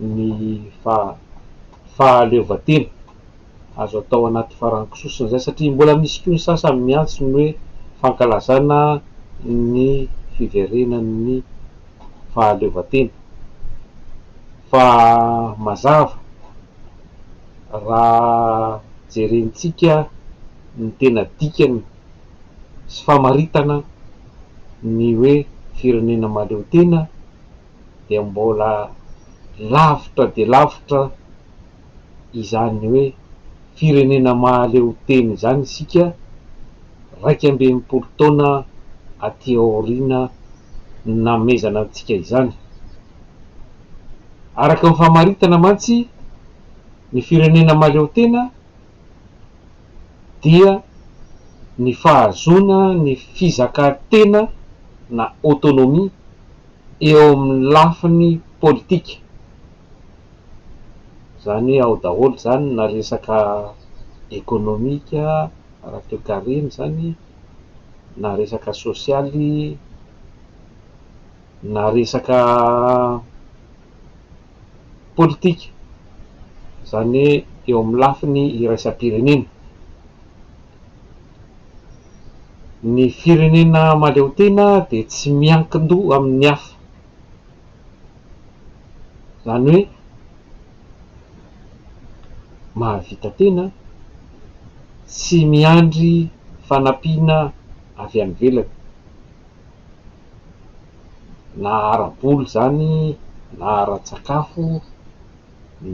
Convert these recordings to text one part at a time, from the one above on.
ny fahaleovantena azo atao anaty farango sosona izay satria mbola misy koa ny sasany miantso ny hoe fankalazana ny fiverenan'ny fahaleovantena fa mazava raha jerentsika ny tena dikany sy famaritana ny hoe firenena mahaleotena dia mbola lavitra dia lavitra izany hoe firenena mahaleo tena izany isika iraika amby enimpolo taona aty aoriana nanomezana antsika izany. Araka ny famaritana mantsy, ny firenena mahaleo tena dia ny fahazoana ny fizakantena na autonomie, eo amin'ny lafiny politika, izany hoe ao daholo izany na resaka ekonomika, ara-toekarena izany, na resaka sosialy, na resaka politika, izany hoe eo amin'ny lafiny iraisam-pirenena. Ny firenena mahaleotena dia tsy miankin-doha amin'ny hafa. Izany hoe mahavita tena, tsy miandry fanampiana avy any ivelany, na ara-bola izany, na ara-tsakafo,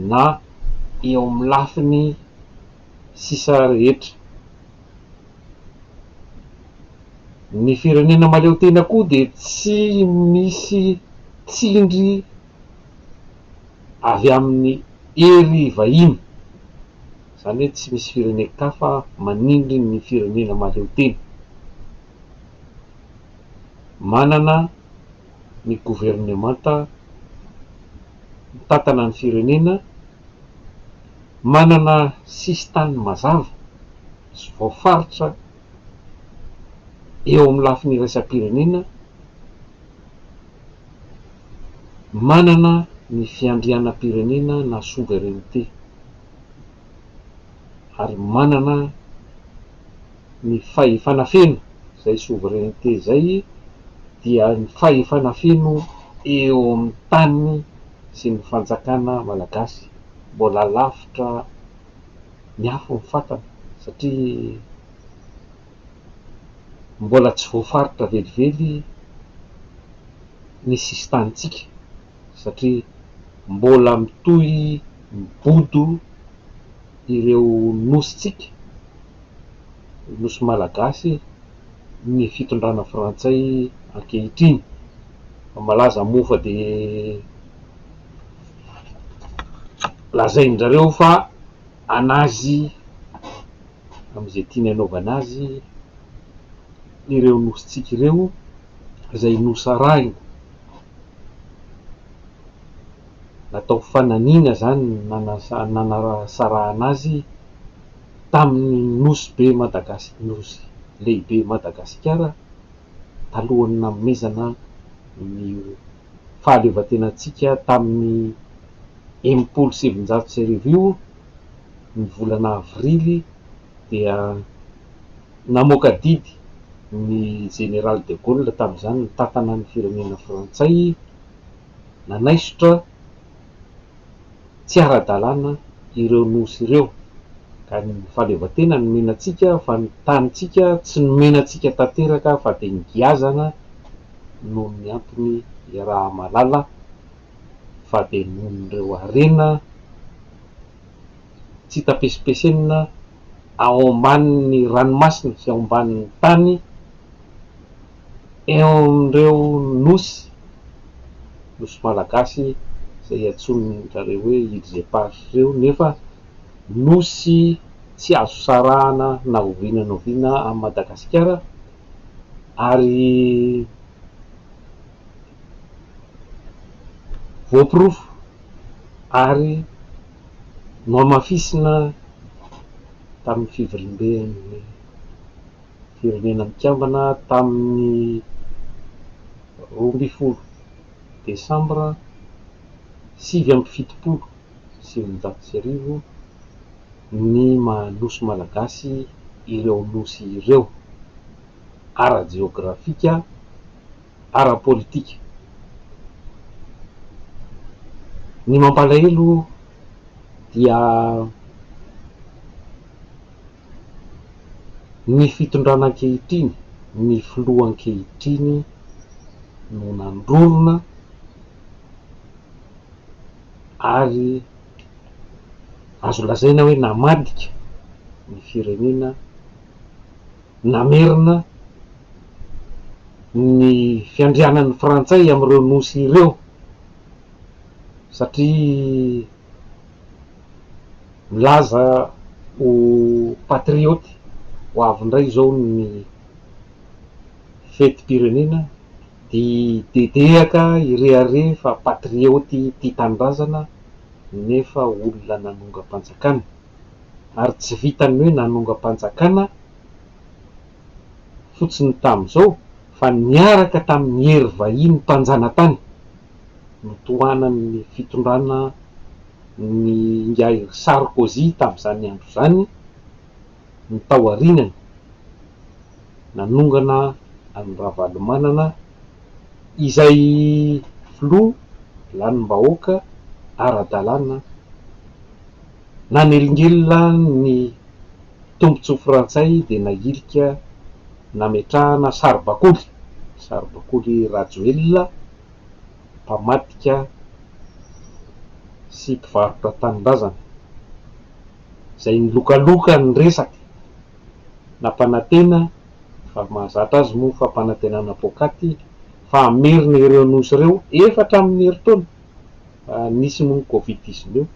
na eo amin'ny lafiny. sisa rehetra. Ny firenena mahaleo tena koa dia tsy misy tsindry avy amin'ny hery vahiny, izany hoe tsy misy firenen-kafa manindry ny firenena mahaleo tena. Manana ny governemanta mitantana ny firenena manana sisin-tany mazava sy voafaritra eo amin'ny lafiny iraisam-pirenena, manana ny fiandrianam-pirenena na souveraineté ary manana. ny fahefana feno izay souveraineté izay dia ny fahefana feno eo amin'ny tany sy ny fanjakana malagasy mbola lavitra ny afo ny fatana satria mbola tsy voafaritra velively ny sisintanintsika. satria mbola mitohy mibodo ireo nosintsika, nosy malagasy, ny fitondrana frantsay ankehitriny. Malaza moa fa dia lazain-dRareo fa an'azy amin'izay tiany anaovana azy ireo nosintsika ireo izay nosarahiny. natao fananiana izany nanasarahana azy tamin'ny Nosy be Madagas Nosy lehibe Madagasikara talohan'ny nanomezana ny fahaleovantenantsika tamin'ny enimpolo sy sivinjato sy arivo io ny volana avrily dia namoaka didy ny Jeneraly de Gaulle tamin'izany nitantana ny firenena frantsay nanaisotra tsy ara-dalàna ireo Nosy ireo ka ny fahaleovantena nomena antsika fa ny tanintsika tsy nomena antsika tanteraka fa dia nigiazana noho ny antony iaraha-mahalala fa dia noho ireo harena tsy hita pesipesenina ao ambanin'ny ranomasina sy ao ambanin'ny tany eo amin'ireo nosy, nosy malagasy izay iantsoan-dRareo hoe Iles Eparses ireo, nefa nosy tsy azo sarahana na oviana na oviana an'i Madagasikara ary voaporofo ary. Nohamafisina tamin'ny Fivoriamben'ny Firenena Mikambana tamin'ny roa ambin'ny folo Desambra sivy amby fitopolo sy eninjato sy arivo ny maha Nosy Malagasy ireo Nosy ireo ara-jeografika, ara-politika. Ny mampalahelo dia ny fitondrana ankehitriny, ny filoha ankehitriny no nandrorona ary azo lazaina hoe namadika ny firenena. namerina ny fiandrianan'ny Frantsay amin'ireo nosy ireo satria milaza ho patriote ho avy indray izao ny fetim-pirenena dia dedehaka ireharé fa patriote tia tanindrazana nefa olona nanongam-panjakana. ary tsy vitan'ny hoe nanongam-panjakana fotsiny tamin'izao fa niaraka tamin'ny hery vahiny mpanjanatany notohanan'ny fitondrana ny ingahy Sarkozy tamin'izany andro izany ny tao arinany nanongana an'i Ravalomanana izay filoha lanim-bahoaka ara-dalàna Nanelingelina ny tombontsoa frantsay dia nahilika nametrahana saribakoly, saribakoly Rajoelina mpamadika sy mpivarotra tanindrazana, izay nilokaloka ny resaka, nampanantena fa mahazatra azy moa fampanantenana poakaty fa hamerina ireo nosy ireo efatra amin'ny herintaona. nisy noho ny Covid dix neuf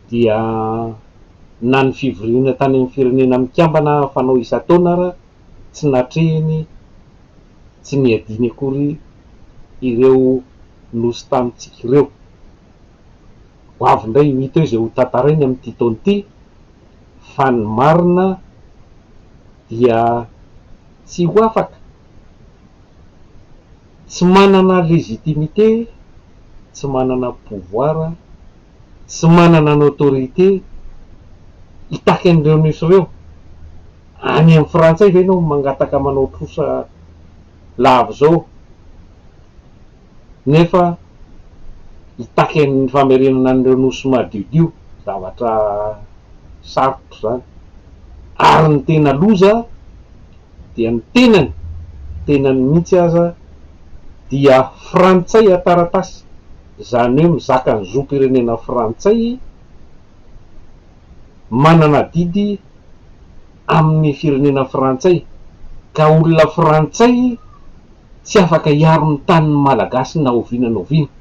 dia na ny fivoriana tany amin'ny firenena mikambana fanao isan-taona ara tsy natrehiny tsy niadiany akory ireo nosy tamintsika ireo. Ho avy indray ho hita eo izay ho tantarainy amin'ity taona ity fa ny marina dia tsy ho afaka. Tsy manana légitimité, tsy manana pouvoir, tsy manana ny autorité hitaky an'ireo Nus ireo. Any amin'ny frantsay ve ianao mangataka manao trosa lava izao nefa hitaky ny famerenana an'ireo Nosy madiodio? Zavatra sarotra izany. Ary ny tena loza. dia ny tenany, tenany mihitsy aza dia frantsay an-taratasy, izany hoe mizaka ny zom-pirenena frantsay, manana adidy amin'ny firenena frantsay, ka olona frantsay tsy afaka hiaro ny tanin'ny Malagasy na oviana na oviana,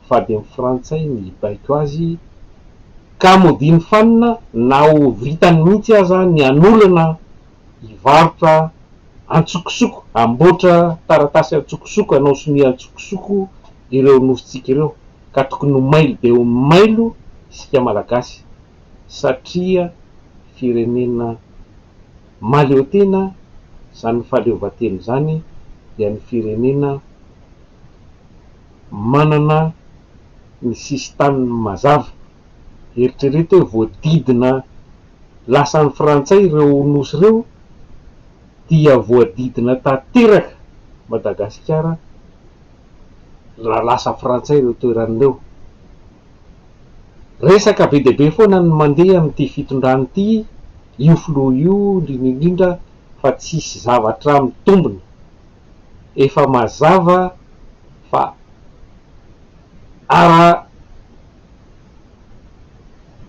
fa dia ny frantsay no hibaiko azy. ka modiany fanina na ho vitany mihitsy aza ny hanolona hivarotra antsokosoko, hamboatra taratasy antsokosoko, hanao sonia antsokosoko ireo nofontsika ireo, ka tokony ho mailo dia ho mailo isika Malagasy satria firenena mahaleo tena, izany fahaleovantena izany dia ny firenena. manana ny sisin-taniny mazava. Eritrereto hoe voadidina lasan'ny Frantsay ireo nosy ireo dia voadidina tanteraka Madagasikara raha lasa Frantsay ireo toerana ireo. Resaka be dia be foana ny mandeha amin'ity fitondrana ity, io filoha io indrindra indrindra fa tsisy zavatra mitombina. efa mazava fa ara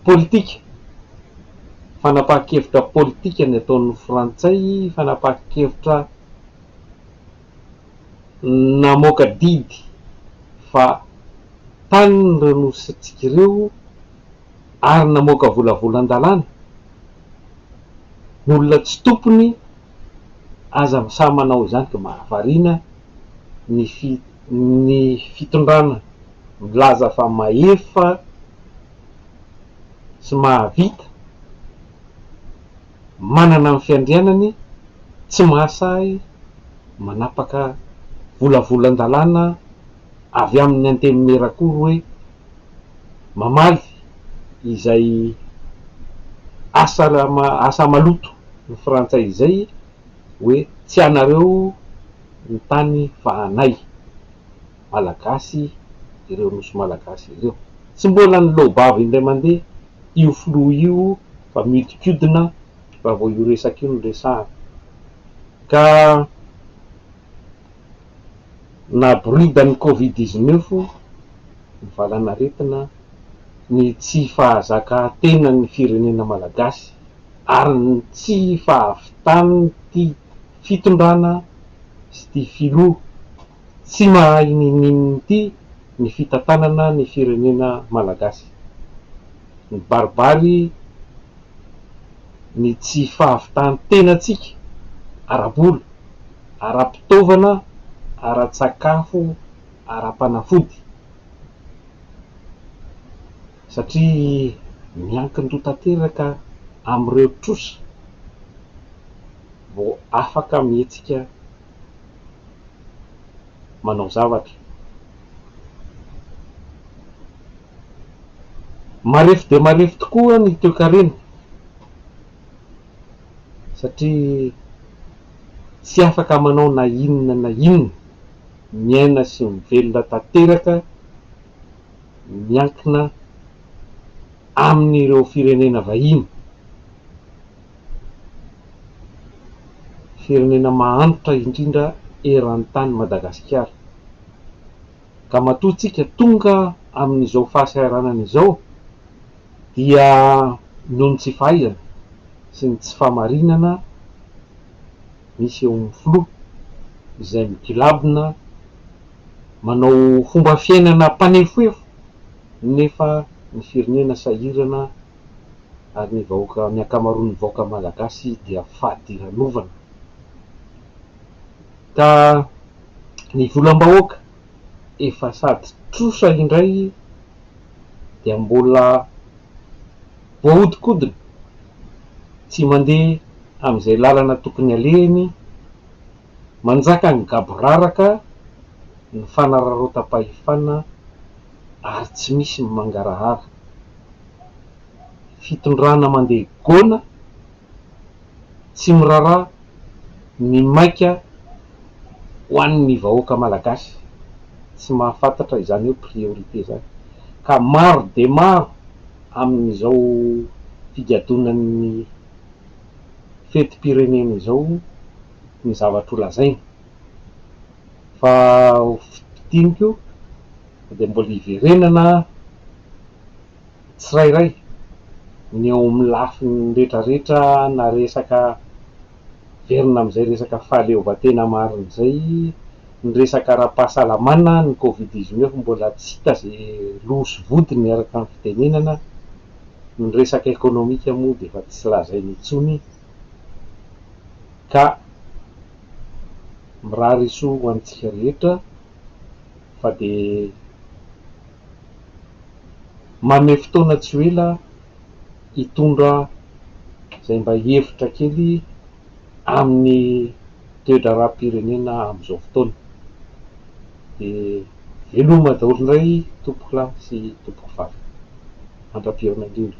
politika, fanapahan-kevitra politika ny ataon'ny frantsay, fanapahan-kevitra namoaka didy fa tanin'ireo nosintsika ireo ary namoaka volavolan-dalàna, ny olona tsy tompony Aza misaha manao izany ka mahavariana ny fi ny fitondrana milaza fa mahefa sy mahavita, manana ny fiandrianany, tsy mahasahy manapaka volavolan-dalàna, Avy amin'ny Antenimierakoro hoe mamaly izay asa asa maloto ny frantsay izay hoe tsy anareo ny tany fa anay Malagasy ireo nosy Malagasy ireo. Tsy mbola niloa-bava indray mandeha io filoha io fa miodikodina raha vao io resaka io no resahana ka Naboridan'ny Covid dix-neuf ny valanaretina, ny tsy fahazakatenan'ny firenena malagasy ary ny tsy fahavitan'ity fitondrana sy ity filoha tsy mahay ninoninona ity ny fitantanana ny firenena malagasy. Nibaribary. ny tsy fahavitan-tenantsika ara-bola, ara-pitaovana, ara-tsakafo, ara-panafody, satria miankin-doha tanteraka amin'ireo trosa vao afaka mihetsika manao zavatra. Marefo dia marefo tokoa ny toekarena satria tsy afaka manao na inona na inona, miaina sy mivelona tanteraka miankina amin'ireo firenena vahiny, firenena mahantra indrindra eran-tany Madagasikara. ka matoa tsika tonga amin'izao fahasahiranana izao dia noho ny tsy fahaizana sy ny tsy fahamarinana misy eo amin'ny filoha izay migilabona manao fomba fiainana mpanefoefo nefa ny firenena sahirana ary ny vahoaka ny ankamaroan'ny vahoaka malagasy dia fadiranovana ka Ny volam-bahoaka efa sady trosa indray dia mbola voahodinkodina tsy mandeha amin'izay lalana tokony alehany, manjaka ny gaboraraka, ny fanararaotam-pahefana ary tsy misy ny mangarahara. Fitondrana mandeha goana. tsy miraharaha ny maika ho an'ny vahoaka malagasy tsy mahafantatra izany hoe priorité izany ka maro dia maro amin'izao figadonan'ny fetim-pirenena izao ny zavatra ho lazaina fa ho fintiniko dia mbola hiverenana tsirairay ny eo amin'ny lafiny rehetrarehetra na resaka miverina amin'izay resaka fahaleovantena marina izay, ny resaka ara-pahasalamana, ny covid dix neuf mbola tsy hita izay loha sy vodiny araka ny fitenenana, ny resaka ekonomika moa dia efa tsy lazaina intsony ka mirary soa ho antsika rehetra fa dia Manome fotoana tsy ho ela hitondra izay mba hevitra kely amin'ny toe-draharaham-pirenena amin'izao fotoana. Dia veloma daholo indray tompoko lahy sy tompoko vavy. Mandra-pihaona indrindra.